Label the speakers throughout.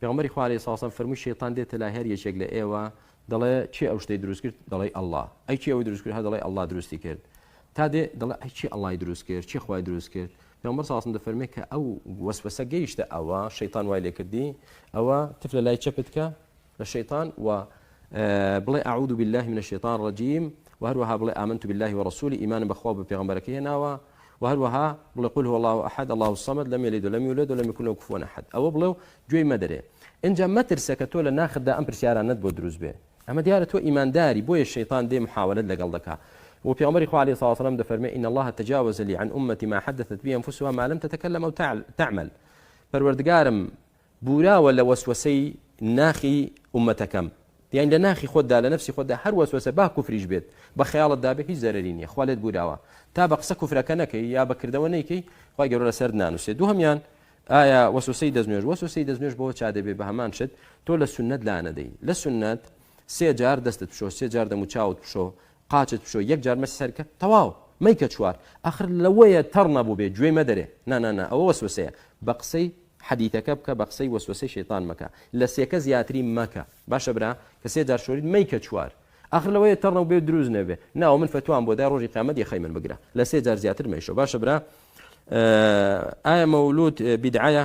Speaker 1: پێغەمبەری خوا علیە ساسەم فەرمووی شەیتان دێتە لای هەر یەکێک لە ئێوە دەڵێ کێ ئەو شتەی دروست کرد دەڵی اللە ئەی کێ ئەوی دروست کرد هەر دەڵی اللە دروستی کرد تا دێ دەڵێ ئەی کێ اللەی دروست کرد کێ خوای دروست کرد پێغەمبەر ساسم دەفەرمێ کە ئەو وەسوەسە گەیشتە ئەوە شەیتان وای لێ کردی ئەوە تف لە لای چەپت کە لە شەیتان و بڵێ اعوذ بالله من الشیطان الرجیم و هەروەها بڵێ آمنت بالله ورسوله ئیمانم بەخوا و بە پێغەمبەرەکەی هێناوە وە هەروەها بڵێ قل هو اللە احد اللە الصمد لم یلد ولم یولد ولم یکن له کفوا احد ئەوە بڵێ و گوێی مەدەرێ ئینجا مەترسە کە تۆ لە ناختدا ئەم پرسیارانەت بۆ دروست بێ ئەمە دیارە تۆ ئیمانداری بۆیە شەیتان دێ محاولەت لەگەڵ دەکا وە پێغەمبەری خوا علیە سڵاوە سلام دەفەرمێ ان اللە تجاوز لی عن امتی ما حدثت به انفسها ما لم تتکلم او تعمل پەروەردگارم بوراوە لە وەسوەسەی ناخی ئومەتەکەم یانی لە ناخی خۆتدا لە نەفسی خۆتدا هەر وەسوەسە با کوفریش بێت بە خەیاڵتدا بێت هیچ زەرەری نیە خوا لێت بوراوە تا بە قسە کوفرەکە نەکەی یا بە کردەوە نەیکەی خوای گەورە لەسەرت نانوسێت دووهەمیان ئایا وەسوسەی دەستنوێژ وەسوسەی دەستنوێژ بەوە چا دەبێت بە هەمان شت تۆ لە سنت لانەدەی لە سنت سێ جار دەستت بشۆ سێ جار دەموچاوت بشۆ قاچت بشۆ یەک جار مەسی سەرکە تەواو مەیکە چوار ئەخر لەوەیە تەڕ نەبووبێ گوێی مەدەرێ نا نا نا ئەوە وەسوەسەیە بە قسەی حەدیتەکە بکە بە قسەی وەسوەسەی شەیتان مەکە لە سێکە زیاتری مەکە باشە برا کە سێ جار شۆریت مەیکە چوار ئەخر لەوەیە تەڕ نەبووبێ دروست نەبێ ناوە من فەتوام بۆ دای ڕۆژی قیامەت یەخەی من بگرە لە سێ جار زیاتر مەیشۆ باشە برا ئایا مەولود بیدعەیە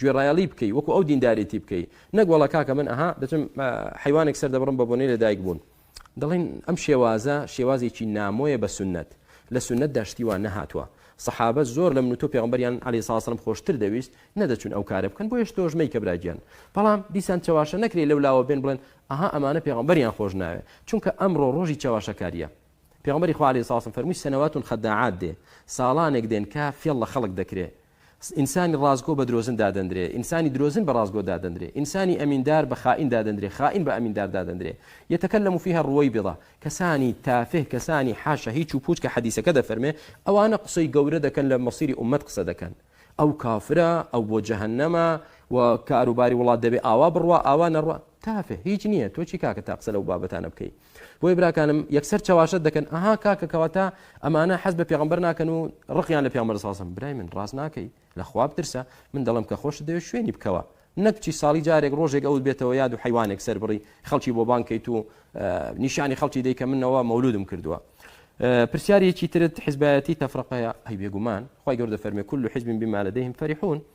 Speaker 1: گوێڕایەڵی بکەی وەکو ئەو دیندارێتی بکەی نەک وەڵا کاکە من ئەها دەچم حەیوانێک سەردەبڕم بە بۆنەی لەدایک بوون دەڵێن ئەم شێوازە شێوازێکی نامۆیە بە سنت لە سنت داشتی وان نەهاتوە سەحابە زۆر لە من و تۆ پێغمبەریان علی ساسرم خۆشتر دەویست نەدەچون ئەو کارە بکەن بۆیش تۆش مەی کە براگیان بەڵام دیسان چەواشە نەکرێ لەو لاوە بێن بڵێن ئەها ئەمانە پێغمبەریان خۆش ناوێ چونکە ئەمڕۆ ڕۆژی چەواشەکاریە پێغمبەری خوالی ساسم فەرمووی سەنەواتون خەداعات دێ ساڵانێک دێن کە فێڵ لە خەڵک دەکرێ ئینسانی ڕاستگۆ بە درۆزن دادەندرێ، ئینسانی درۆزن بە ڕاستگۆ دادەندرێ، ئینسانی ئەمیندار بە خائین دادەندرێ، خائین بە ئەمیندار دادەندرێ، یەتەکەلەمو فیها الروەیبیضە، کەسانی تافه، کەسانی حاشا هیچ و پوچ کە حەدیسەکە دەفەرمێ ئەوانە قسەی گەورە دەکەن لە مەسیری ئوممەت قسە دەکەن ئەو کافرە، ئەو بۆ جەهەنەمە و کاروباری وڵات دەبێ ئاوا بڕوا ئاوا نەڕوا، تافه، هیچ نییە، تۆ چی کاکە تا قسە لەو بابەتانە بکەی. بۆیە براکانم یەکسەر چەواشەت دەکەن ئەها کاکە کەواتە ئەمانە حەز بە پێغمبەر ناکەن و ڕقیان لە پێغمبەر ساسم برای من ڕاست ناکەی لە خواب ترسە من دەڵم کە خۆش دەوێت شوێنی بکەوە نەک چی ساڵی جارێک ڕۆژێک ئەوت بێتەوە یاد و حیوانێک سەر بڕی خەڵکی بۆ بانکەیت و نیشانی خەڵکی دەیکە منەوە مەولودم کردووە پرسیارێکی ترت حزبایەتی تەفرقەیە هەی بێگومان خی گەوردە فەرمی کول و حزبین بمالەدەیم فەریحون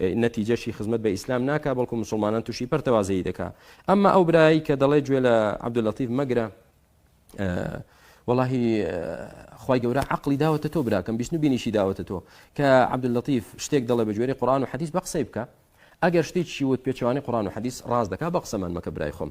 Speaker 1: نەتیجەشی خزمەت بە ئیسلام ناکا بەڵکو موسڵمانان توشی پەرتەوازەیی دەکا ئەمما ئەو برایەی کە دەڵێ گوێ لە عبداللطیف مەگرە وەڵاهی خی گەورە عقلی داوەتە تۆ براکەم بیستن و بینیشی داوەتە تۆ کە عبداللطیف شتێک دەڵێ بە جوێری قڕان و حەدیث بە قسەی بکە ئەگەر شتێکی وت پێچوانی قڕان و حەدیث ڕاز دەکا بە قسەمان مەکە برای خۆم